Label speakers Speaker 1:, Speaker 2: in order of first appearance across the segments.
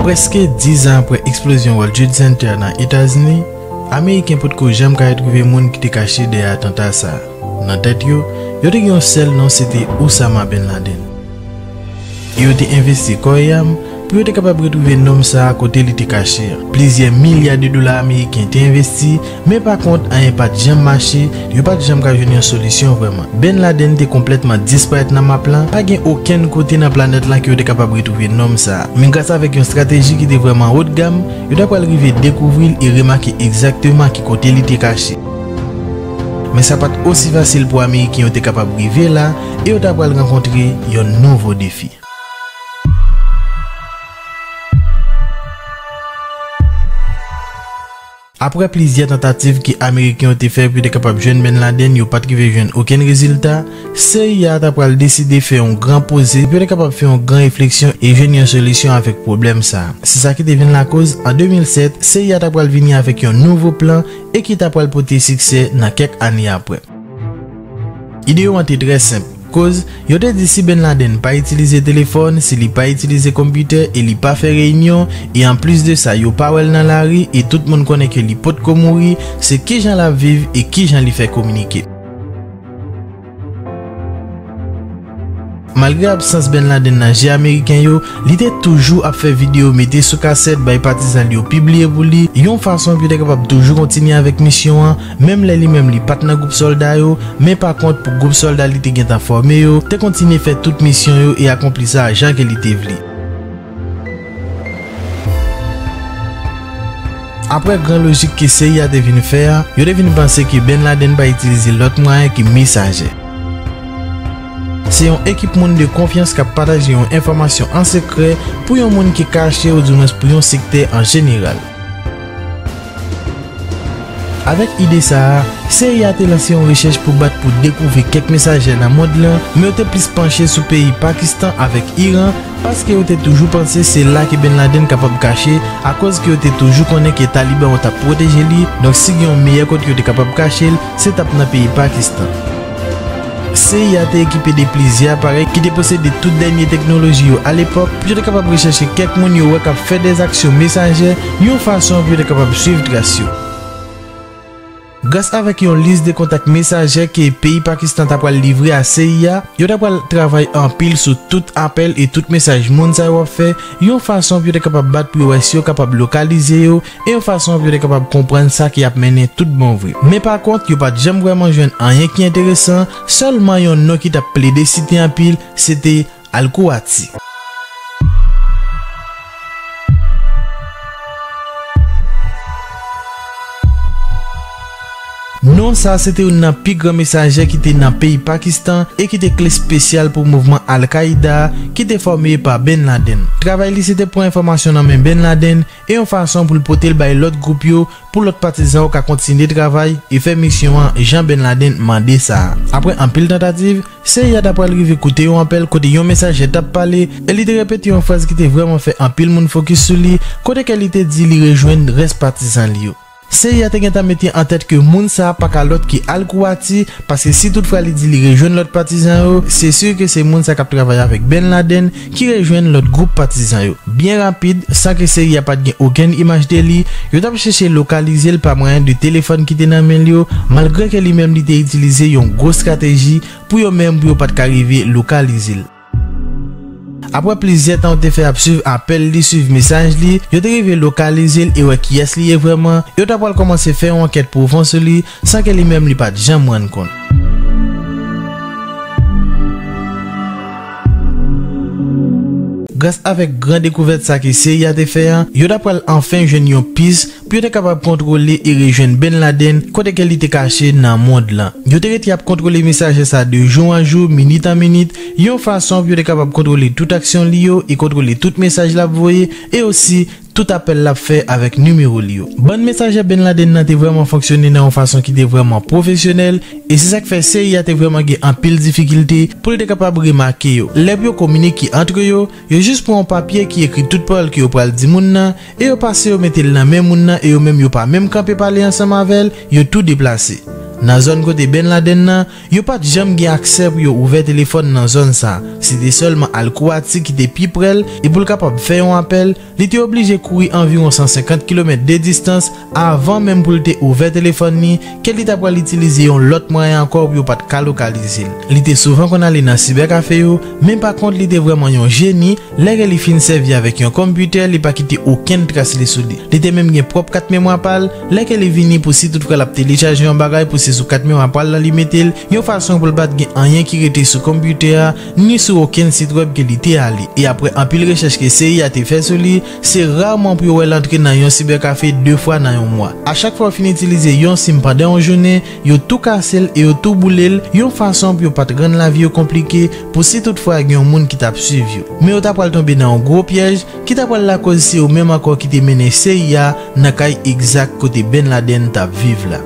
Speaker 1: Preske 10 an apre eksplozyon World Trade Center nan Etazini, Ameriken potko janm ka retwouve moun ki te kache dèyè atanta sa a. Nan tèt yo, yo te gen yon sèl non, se te Oussama bin Laden. E yo te envesti kò e am pou yo te kapab retwouve nonm sa a kote li te kache an. Plizyè milya de dola ameriken te envesti, men pakont anyen pa t janm mache, yo pa t janm ka jwenn yon solisyon vrèman. Ben Laden te konplètman disparèt nan map lan, pa gen okenn kote nan planèt lan ke yo te kapab retwouve nonm sa a. Men gras avèk yon strateji ki te vrèman haut de gamme, yo ta pral rive dekouvri l e remake egzakteman ki kote li te kache. Men sa pa t osi fasil pou ameriken yo te kapab rive la, e yo ta pral rankontre yon nouvo defi. Aprè plizyè tantativ ke Ameriken yo te fè pou yo te kapab jwenn Ben Laden, yo pa t rive jwenn okenn rezilta, cia ta pral deside fè yon gran poze pou yo te kapab fè yon gran refleksyon e jwenn yon solisyon avèk pwoblèm sa a. Se sa ki te vin lakoz, an 2007, cia ta pral vini avèk yon nouvo plan e ki ta pral pote siksè nan kèk ane aprè. Ide yo an te trè senp, koz yo te di si Bin Laden pa itilize telefòn, si li pa itilize konpitè e li pa fè reyinyon, e an plis de sa yo pa wè l nan lari e tout moun konnen ke li potko mouri, se kijan l ap viv e kijan li fè kominike. Malgre absans Ben Laden nan je ameriken yo, li te toujou ap fè videyo mete sou kasèt bay patizan l yo pibliye pou li, yon fason pou yo te kapab toujou kontinye avèk misyon an, menm lè li menm li pa t nan gwoup sòlda yo, men pa kont pou gwoup sòlda li te gentan fòme yo, te kontinye fè tout misyon yo e akonpli sa a jan ke li te vle. Aprè gran lojik ke CIA te vin fè a, yo te vin panse ke Ben Laden pa itilize lòt mwayen ke mesaje. Se yon ekip moun de konfyans kap pataje yon enfòmasyon an sekrè pou yon moun ki kache oudiwens pou yon sektè an jeneral. Avèk ide sa a, seri a te lanse yon rechèch pou bat pou dekouvri kèk mesajè nan mond lan, men yo te plis panche sou peyi Pakistan avèk Iran paske yo te toujou panse se la ke Ben Laden kapab kache akòz ke yo te toujou konnen ke Taliban yo t ap pwoteje li, donk si gen yon meyè kote yo te kapab kache l, se t ap nan peyi Pakistan. Seri a te ekipe de plizyè aparèy ki te posede tout dènye teknoloji yo alepòk pou yo te kapab rechèche kèk moun yo wè k ap fè dèz aksyon mesaje yon fason pou yo te kapab suiv tras yo. Gras avèk yon lis de kontak mesaje ke peyi Pakistan ta pral livre a seri a, yo ta pral travay anpil sou tout apèl e tout mesaj moun sa yo ap fè yon fason pou yo te kapab bat pou yo wè si yo kapab lokalize yo e yon fason pou yo te kapab konprann sa ki ap mennen toutbon vre. Men pakont, yo pa t janm vrèman jwenn anyen ki enteresan, sèlman yon non ki t ap plede site anpil, se te Alkouati. Non sa a se te youn nan pi gran mesaje ki te nan peyi Pakistan e ki te kle spesyal pou mouvman al-Kaida a ki te fòme pa Ben Laden. Travay li se te pran enfòmasyon nan men Ben Laden e yon fason pou l pote l bay lòt gwoup yo pou lòt patizan yo ka kontinye travay e fè misyon an jan Ben Laden mande sa a. Apre anpil tantativ, Seyyad apral rive koute yon apèl kote yon mesajè t ap pale e li te repete yon fraz ki te vrèman fè anpil moun fokis sou li kote ke li te di li rejwenn rès patizan li yo. Seyè a te gentan mete an tèt ke moun sa a pa ka lòt ke Al Kuwati, paske si tout fwa li di li rejwenn lòt patizan yo, se sur ke se moun sa k ap travay avèk Ben Laden ki rejwenn lòt gwoup patizan yo. Byen rapid, san ke seyè a pa t gen okenn imaj de li, yo t ap chèche lokalize l pa mwayen de telefòn ki te nan men l yo, malgre ke li menm li te itilize yon gwo strateji pou yo menm pou yo pa t ka rive lokalize l. Aprè plizyè tan yo te fè ap swiv apèl li, swiv mesaj li, yo te rive lokalize l e wè kiyès li ye vrèman, yo ta pral kòmanse fè yon ankèt pwofon sou li san ke li menm li pa t janm rann kont. Gras avèk gran dekouvèt sa ke CIA te fè an, yo ta pral anfen jwenn yon pis Pou yo te kapab kontwole e rejwenn Ben Laden kote ke li te kache nan mond lan. Yo te rete ap kontwole mesajè sa de jou an jou, minit an minit, yon fason pou yo te kapab kontwole tout aksyon li yo e kontwole tout mesaj lap voye e osi tout apèl lap fè avèk nimewo li yo. Bann mesajè Ben Laden nan te vrèman fonksyone nan yon fason ki te vrèman pwofesyonèl e se sak fè CIA te vrèman gen anpil difikilte pou l te kapab remake yo lè pou yo kominike antre yo Yo jis pran yon papye ki ekri tout pawòl ke yo pral di moun nan, e yo pase yo mete l nan men moun nan e yo menm yo pa menm kanpe pale ansanm avè l, yo tou deplase. Nan zòn kote Bin Laden nan, yo pa t janm gen aksè pou yo ouvè telefòn nan zòn sa, se te sèlman Al Kouati ki te pi prè l e pou l kapab fè yon apèl, li te oblije kouri anviwon 150 kilomèt de distans, Avan menm pou l te ouvè telefòn li, Kelly ta pral itilize yon lòt mwayen ankò pou yo pa t ka lokalize l. Li te souvan konn ale nan sibèkafe yo, men pa kont li te vrèman yon jeni, lè Kelly fin sèvi avèk yon computer li pa kite okenn tras li sou li. Li te menm gen pwòp kat memwa pa l, lè Kelly vini pou si tout fwa l ap telechaje yon bagay pou se sou kat memwa pa l lan li mete l, yon fason pou l pa t gen anyen ki rete sou computer a, ni sou okenn sit wèb ke li te ale. E aprè anpil rechèch ke Seyi a te fè sou li, Se raman pou yo wè l antre nan yon sibèkafe de fwa nan yon mwa. A chak fwa yo fin itilize yon sim pandan yon jounen, yo tou kase l e yo tou boule l, yon fason pou yo pa t rann lavi yo konplike pou si tout fwa gen yon moun ki t ap suiv yo. Men yo ta pral tonbe nan yon gwo pyèj ki ta pral lakoz se yo menm ankò ki te mennen CIA nan kay egzak kote Ben Laden t ap viv la.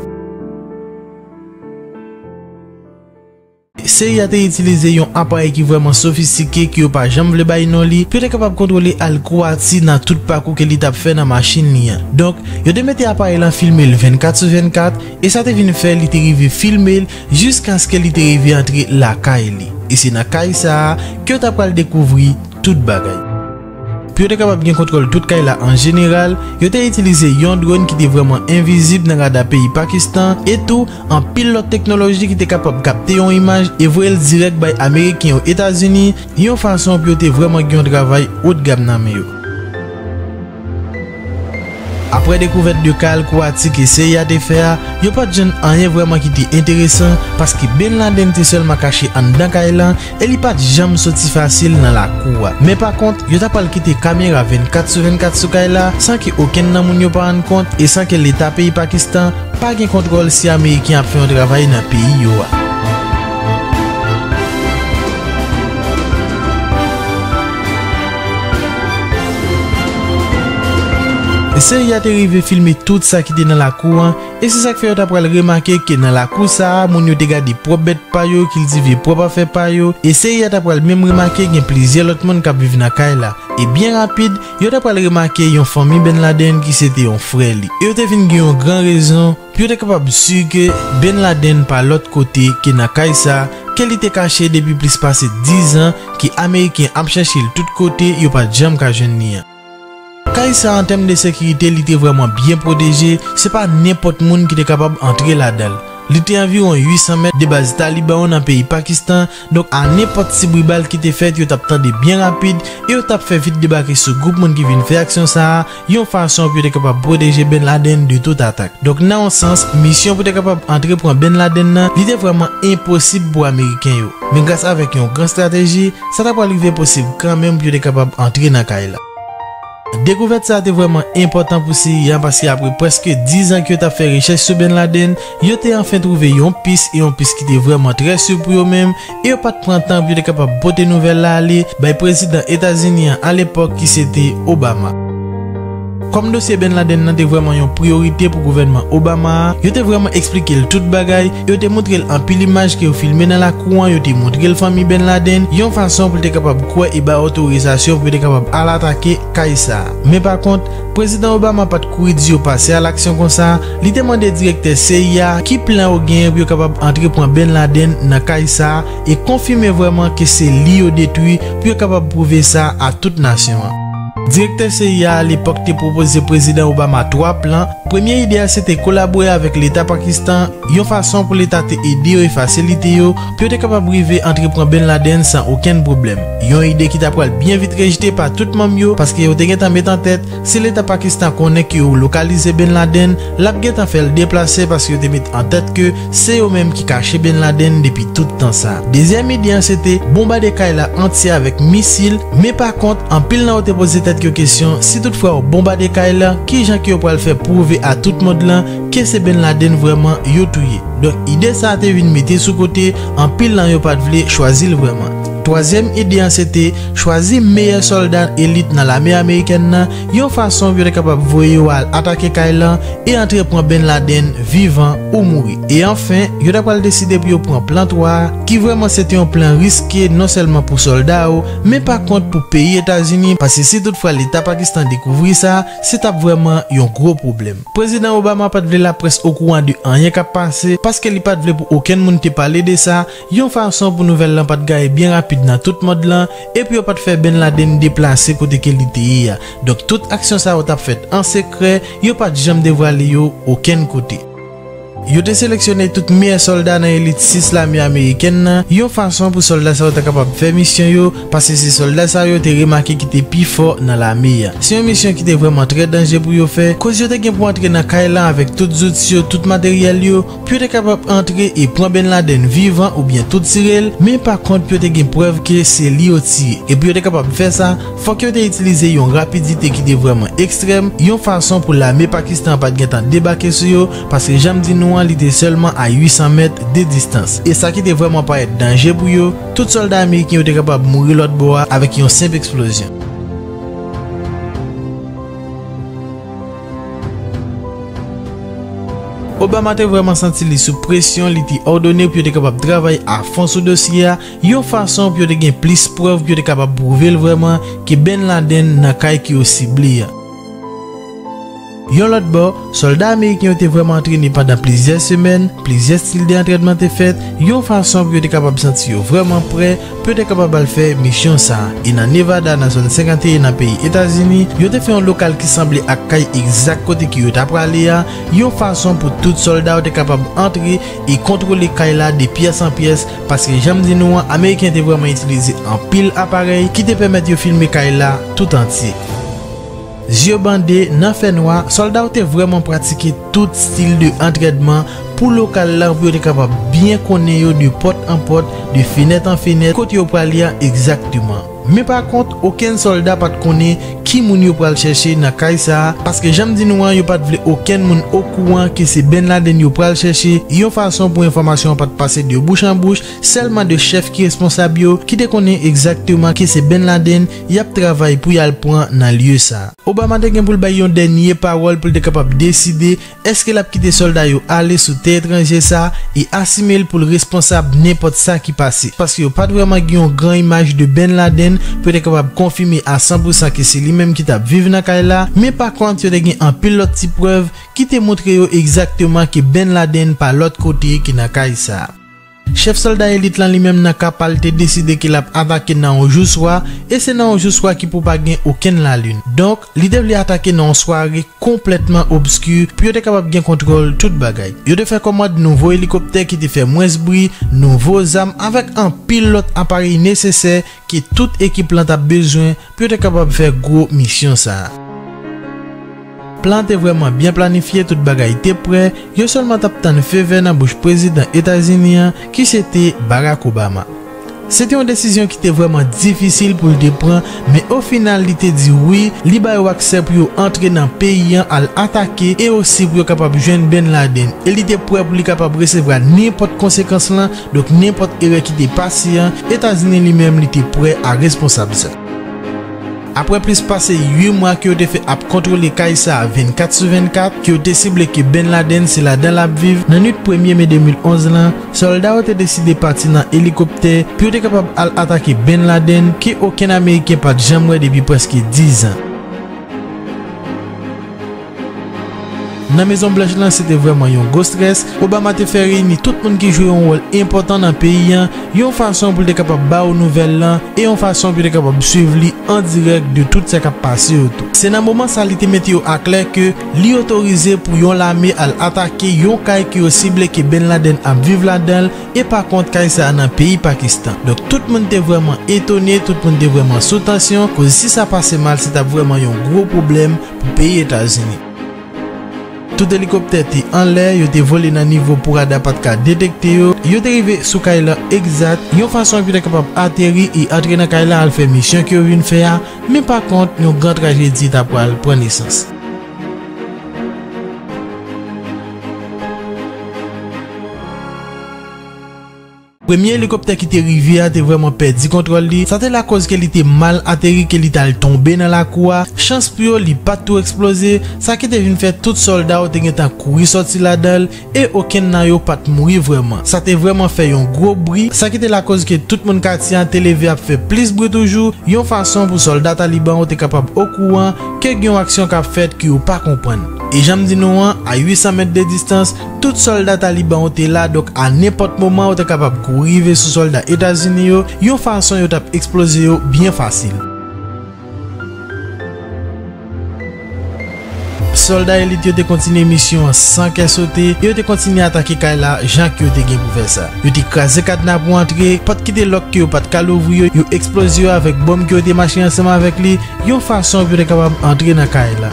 Speaker 1: Seri a te itilize yon aparèy ki vrèman sofistike ke yo pa janm vle bay non li, pou yo te kapab kontwole alkouwa Ti nan tout pakou ke li t ap fè nan machin li an. Donk, yo te mete aparèy lan filme l 24 sou 24, e sa te vin fè li te rive filme l jiskaske li te rive antre lakay li. E se nan kay sa a ke yo ta pral dekouvri tout bagay. Pou yo te kapab gen kontwòl tout kay la an jeneral, yo te itilize yon dron ki te vrèman envizib nan rada peyi Pakistan e tou anpil lòt teknoloji ki te kapab kapte yon imaj e voye l dirèk bay Ameriken yo Etazini yon fason pou yo te vrèman gen yon travay otgam nan men yo. Aprè dekouvèt de kal kou atik e seri a te fè a, yo pa t jwenn anyen vrèman ki te enteresan paske Bin Laden te sèlman kache anndan kay lan e li pa t janm soti fasil nan lakou a. Men pa kont, yo ta pral kite kamera 24 sou 24 sou kay la san ke okenn nan moun yo pa rann kont e san ke Leta peyi Pakistan pa gen kontwòl si Ameriken ap fè yon travay nan peyi yo a. Seri a te rive filme tout sa ki te nan lakou an, e se sa k fè yo t apral remake ke nan lakou sa a moun yo te gade pwòp bèt pa yo, kiltive pwòp afè pa yo, e seri a t apral menm remake gen plizyè lòt moun k ap viv nan kay la. E byen rapid, yo t apral remake yon fanmi Ben Laden ki se te yon frè li, e yo te vin gen yon gran rezon pou yo te kapab si ke Ben Laden pa lòt kote ke nan kay sa, ke li te kache depi plis pase 10 an, ke Ameriken ap chèche l tout kote, yo pa t janm ka jwenn li an. Kay sa an tèm de sekirite li te vrèman byen pwoteje, se pa nenpòt moun ki te kapab antre ladan l. Li te anviwon 800 mèt de baz Taliban yo nan peyi Pakistan, donk a nenpòt ti bri bal ki te fèt yo t ap tande byen rapid e yo t ap fè vit debake sou gwoup moun ki vin fè aksyon sa a, yon fason pou yo te kapab pwoteje Bin Laden de tout atak. Donk nan yon sans, misyon pou te kapab antre pran Bin Laden nan, li te vrèman enposib pou Ameriken yo. Men gras avèk yon gran strateji, sa ta pral rive posib kanmenm pou yo te kapab antre nan kay la. Dekouvèt sa a te vrèman enpòtan pou CIA an paske apre prèske 10 an ke yo t ap fè rechèch sou Bin Laden, yo te anfen twouve yon pis e yon pis ki te vrèman trè sur pou yo menm, e yo pat pran tan pou yo te kapab pote nouvèl la ale bay prezidan Etazini an alepòk ki se te Obama. Kòm dosye Bin Laden nan te vrèman yon priyorite pou gouvènman Obama a, yo te vrèman eksplike l tout bagay e yo te montre l anpil imaj ke yo filme nan lakou an, yo te montre l fanmi Bin Laden yon fason pou l te kapab kwè e bay otorizasyon pou yo te kapab al atake kay sa a. Men pa kont, Prezidan Obama pa t kouri di yo pase alaksyon konsa, li te mande direktè cia ki plan yo genyen pou yo kapab antre pran Bin Laden nan kay sa a e konfime vrèman ke se li yo detwi pou yo kapab pwouve sa a tout nasyon an. Direktè cia a alepòk te pwopoze Prezidan Obama 3 plan, premye ide a se te kolabore avèk Leta Pakistan yon fason pou Leta te ede yo e fasilite yo pou yo te kapab rive antre pran Ben Laden san okenn pwoblèm, yon ide ki ta pral byen vit rejte pa tout manm yo paske yo te gentan met an tèt si leta Pakistan konnen ke yo lokalize Ben Laden l ap gentan fè l deplase paske yo te met an tèt ke se yo menm ki kache Ben Laden depi tout tan sa. Dezyèm ide an se te bonbade kay la antye avèk misil, men pa kont anpil nan yo te poze tèt yo kesyon si tout fwa yo bonbade kay la kijan ke yo pral fè pwouve a tout mond lan ke se Ben Laden vrèman yo touye. Donk ide sa a te vin mete sou kote, anpil nan yo pa t vle chwazi l vrèman. Twazyèm ide an sete chwazi meyè sòlda elit nan lame amerikèn nan yon fason pou yo ta kapab voye yo al atake kay lan e antre pran Ben Laden vivan ou mouri. E anfen, yo ta pral deside pou yo pran plan 3 a, ki vrèman sete yon plan riske nonsèlman pou sòlda yo, men pa kont pou peyi Etazini, paske si tout fwa Leta Pakistan dekouvri sa, se t ap vrèman yon gwo pwoblèm. Prezidan Obama pa t vle laprès okouran de anyen k ap pase, paske li pa t vle pou okenn moun te pale de sa, yon fason pou nouvèl lan pa t gaye byen rapid nan tout mond lan, e pou yo pa t fè Bin Laden deplase kote ke li te ye a. Donk tout aksyon sa yo t ap fèt an sekrè, yo pa t janm devwale yo okenn kote. Yo te seleksyone tout meyè sòlda nan elit 6 lame amerikèn nan yon fason pou sòlda sa yo ta kapab fè misyon yo, paske se sòlda sa yo te remake ki te pi fò nan lame a. Se yon misyon ki te vrèman trè danje pou yo fè, koz yo te gen pou antre nan kay la avèk tout zouti yo, tout materyèl yo, pou yo te kapab antre e pran Ben Laden vivan oubyen tou tire l, men pa kont pou yo te gen prèv ke se li yo tiye, e pou yo te kapab fè sa, Fòk yo te itilize yon rapidite ki te vrèman ekstrèm, yon fason pou lame Pakistan an pa t gentan debake sou yo, paske jan m di nou an li te sèlman a 800 mèt de distans. E sa ki te vrèman parèt danje pou yo, tout sòlda ameriken yo te kapab mouri lòt bò a avèk yon senp eksplozyon. Obama te vrèman santi li sou presyon, li te òdone pou yo te kapab travay a fon sou dosye a, Yon fason pou yo te gen plis prèv pou yo te kapab pwouve l vrèman ke Bin Laden nan kay ke yo sible a. Yon lòt bò, sòlda ameriken yo te vrèman antrene pandan plizyè semèn, plizyè stil de antrènman te fèt, yon fason pou yo te kapab santi yo vrèman prè pou yo te kapab al fè misyon sa a. E nan Nevada, nan Zòn 51 nan peyi Etazini, yo te fè yon lokal ki sanble ak kay egzak kote ke yo ta prale a, yon fason pou tout sòlda yo te kapab antre e kontwole kay la de pyès an pyès, Paske jan m di nou an, Ameriken te vrèman itilize anpil aparèy ki te pèmèt yo filme kay la tout antye. Zye bande, nan fè nwa, sòlda yo te vrèman pratike tout stil de antrènman pou lokal la pou yo te kapab byen konnen yo de pòt an pòt, de fenèt an fenèt, kote yo prale a egzakteman. Men pa kont, okenn sòlda pa t konnen ki moun yo pral chèche nan kay sa a, paske jan m di nou an, yo pa t vle okenn moun okouran ke se Ben Laden yo pral chèche, yon fason pou enfòmasyon an pa t pase de bouch an bouch, sèlman de chèf ki responsab yo ki te konnen egzakteman ke se Ben Laden y ap travay pou y al pran nan lye sa. Obama te gen pou l bay yon dènye pawòl pou l te kapab deside Èske l ap kite sòlda yo ale sou tè etranje sa a e asime l pou l responsab nenpòt sa ki pase? Paske yo pa t vrèman gen yon gran imaj de Ben Laden, pou yo te kapab konfime a san pou san ke se li menm ki t ap viv nan kay la, men pakont yo te gen anpil lòt ti prèv ki te montre yo egzakteman ke Ben Laden pa lòt kote ke nan kay sa a. Chèf sòlda elit lan li menm nan ka pa l te deside ke l ap atake nan yon jou swa, e se nan yon jou swa ki pou pa gen okenn lalin. Donk, li te vle atake nan yon sware konplètman obski pou yo te kapab gen kontwòl tout bagay. Yo te fè kòmand nouvo elikoptè ki te fè mwens bri, nouvo zam avèk anpil lòt aparèy nesesè ke tout ekip lan t ap bezwen pou yo te kapab fè gwo misyon sa a. Plan an te vrèman byen planifye, tout bagay te prè, yo sèlman t ap tann fe vè nan bouch prezidan Etazini an ki se te Barack Obama. Se te yon desizyon ki te vrèman difisil pou l te pran, men ofinal li te di wi, li ba yo aksè pou yo antre nan peyi an al atake e osi pou yo kapab jwenn Bin Laden e li te prè pou li kapab resevwa nenpòt konsekans lan Donk nenpòt erè ki te pase an, Etazini li menm li te prè a responsab sa. Aprè plis pase 8 mwa ke yo te fè ap kontwole kay sa 24 sou 24, ke yo te sible ke Bin Laden se ladan l ap viv, nan nwit premye me 2011 lan, sòlda yo te deside pati nan elikoptè pou yo te kapab al atake Bin Laden ke okenn ameriken pa t janm wè depi prèske 10 zan. Nan Mezon Blanch lan se te vrèman yon gwo strès, Obama te fè reyini tout moun ki jwe yon wòl enpòtan nan peyi an yon fason pou l te kapab ba yo nouvèl lan e yon fason pou yo te kapab swiv li an dirèk de tout sa k ap pase yo tou. Se nan moman sa li te mete yo aklè ke li otorize pou yon lame al atake yon kay ke yo sible ke Ben Laden ap viv ladan l e pa kont kay sa a nan peyi Pakistan. Donk tout moun te vrèman etone, tout moun te vrèman sou tansyon koz si sa pase mal se t ap vrèman yon gwo pwoblèm Nan peyi Etazini, tout elikoptè te anlè, yo te vole nan nivo pou rada pa t ka detekte yo. Yo te rive sou kay lan egzat yon fason ak yo ta kapab ateri e antre nan kay la al fè misyon ke yo vin fè a, men pa kont yon gran trajedi ta pral pran nesans. Premye elikoptè ki te rive a te vrèman pèdi kontwòl li, sa te lakoz ke li te mal ateri ke li t al tonbe nan lakou a, chans pou yo li pat tou eksploze, sa ki te vin fè tout sòlda yo te gentan kouri sòti ladan l e okenn nan yo pat mouri vrèman. Sa te vrèman fè yon gwo bri, sa ki te lakoz ke tout moun katye an te leve ap fè plis bri toujou, yon fason pou sòlda Taliban yo te kapab okouran ke gen yon aksyon kap fèt ke yo pa konprann. E janm di nou an, a 800 mèt de distans, Tout sòlda Taliban yo te la, donk a nenpòt moman yo te kapab kouri rive sou sòlda Etazini yo yon fason yo t ap eksploze yo byen fasil. Sòlda elit yo te kontinye misyon an san kè sote e yo te kontinye atake kay la jan ke yo te gen pou fè sa. Yo te kraze kadna pou antre, pòt ki te lòk ke yo pa t ka louvri yo, yo eksploze yo avèk bonm ke yo te mache ansanm avèk li yon fason pou yo te kapab antre nan kay la.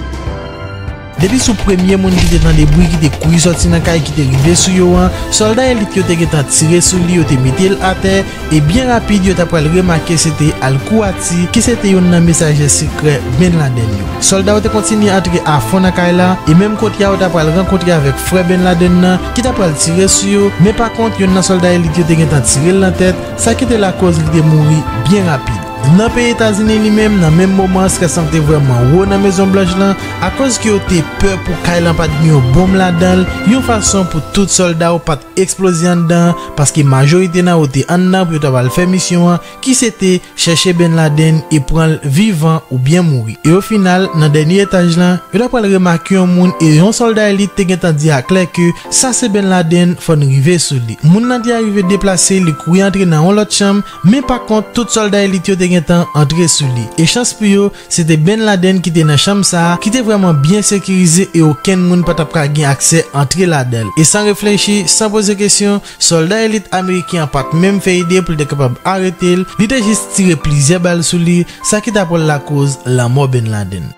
Speaker 1: Depi sou premye moun ki te tande bri ki te kouri sòti nan kay ki te rive sou yo an, sòlda elit yo te gentan tire sou li, yo te mete l atè, e byen rapid yo t apral remake se te al-Kouwati ki se te youn nan mesaje sekrè Bin Laden yo. Sòlda yo te kontinye antre afon nan kay la, e menm kote a yo t apral rankontre avèk frè Bin Laden nan ki t apral tire sou yo, men pa kont youn nan sòlda elit yo te gentan tire l nan tèt, sa ki te lakoz li te mouri byen rapid. Nan peyi Etazini li menm nan menm moman an strès lan te vrèman wo nan Mezon Blanch lan akoz ke yo te pè pou kay lan pat gen yon bonm ladan l yon fason pou tout sòlda yo pat eksploze anndan an paske majorite nan yo te anndan pou yo ta pral fè misyon an ki se te chèche Bin Laden e pran l vivan oubyen mouri e ofinal nan dènye etaj lan yo ta pral remake yon moun e yon sòlda elit te gentan di a klè ke sa se Bin Laden fò n rive sou li moun lan te arive deplase li kouri antre nan yon lòt chanm Men pa kont tout sòlda elit yo te gen tan antre sou li. E chans pou yo, se te Ben Laden ki te nan chanm sa a, ki te vrèman byen sekirize e okenn moun pa t ap ka gen aksè antre ladan l. E san reflechi, san poze kesyon, sòlda elit ameriken an pa t menm fè ide pou l te kapab arete l, li te jis tire plizyè bal sou li, sa ki ta pral lakoz lanmò Ben Laden.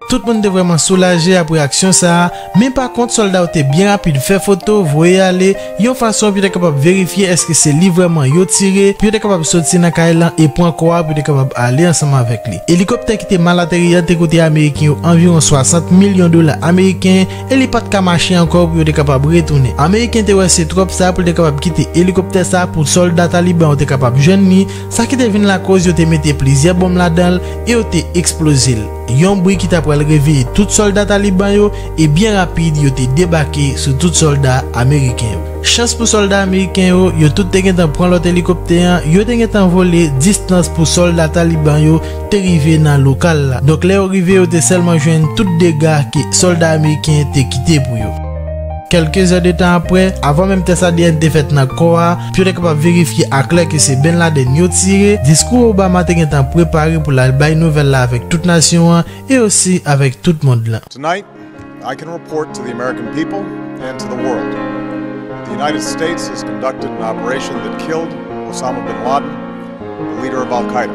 Speaker 1: Tout moun te vrèman soulaje apre aksyon sa a, men pa kont sòlda yo te byen rapid fè foto, voye ale, yon fason pou yo te kapab verifye èske se li vrèman yo tire, pou yo te kapab soti nan kay lan e pran kò a pou yo te kapab ale ansanm avèk li. Elikoptè ki te mal ateri an te koute Ameriken yo anviwon 60 milyon dola ameriken e li pa t ka mache ankò pou yo te kapab retounen. Ameriken te wè se twòp sa pou l te kapab kite elikoptè sa a pou sòlda Taliban yo te kapab jwenn li, sa ki te vin lakoz yo te mete plizyè bonm ladan l e yo te eksploze l. yon bri ki ta pral reveye tout sòlda Taliban yo e byen rapid yo te debake sou tout sòlda ameriken yo. Chans pou sòlda ameriken yo, yo tout te gentan pran lòt elikoptè an, yo te gentan vole distans pou sòlda Taliban yo te rive nan lokal la. Donk lè yo rive yo te sèlman jwenn tout dega ke sòlda ameriken te kite pou yo. Kèlke zè de tan aprè, avan menm tès ADN te fèt nan kò a, Pou yo te kapab verifye aklè ke se Ben Laden yo tire, diskou Obama te gentan prepare pou l al bay nouvèl la avèk tout nasyon an e osi avèk tout mond lan. Tonight,
Speaker 2: I can report to the American people and to the world that the United States has conducted an operation that killed Osama Bin Laden, the leader of Al Qaeda.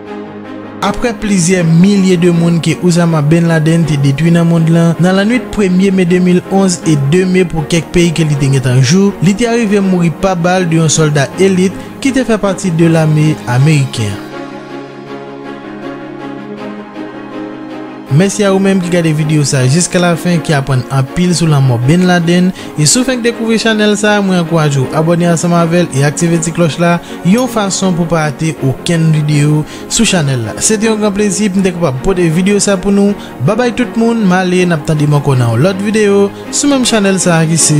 Speaker 1: Aprè plizyè milye de moun ke Ousama Bin Laden te detwi nan mond lan, nan lannwit premye me 2011 e 2 me pou kèk peyi ke li te gentan jou, li te arive mouri pa bal de yon sòlda elit ki te fè pati de lame ameriken. Mèsi a ou menm ki gade video sa jiska la fen ki aprann anpil sou lanmò Ben Laden e si w fenk dekouvri chanèl sa mwen ankouraje w abòne ansanm avèl e aktive ti klòch la yon fason pou w pa rate okenn video sou chanèl la se te yon gran plezi pou m te kapab pote video sa pou nou babay tout moun m ale n ap tande m ankò nan yon lòt video sou menm chanèl sa ki se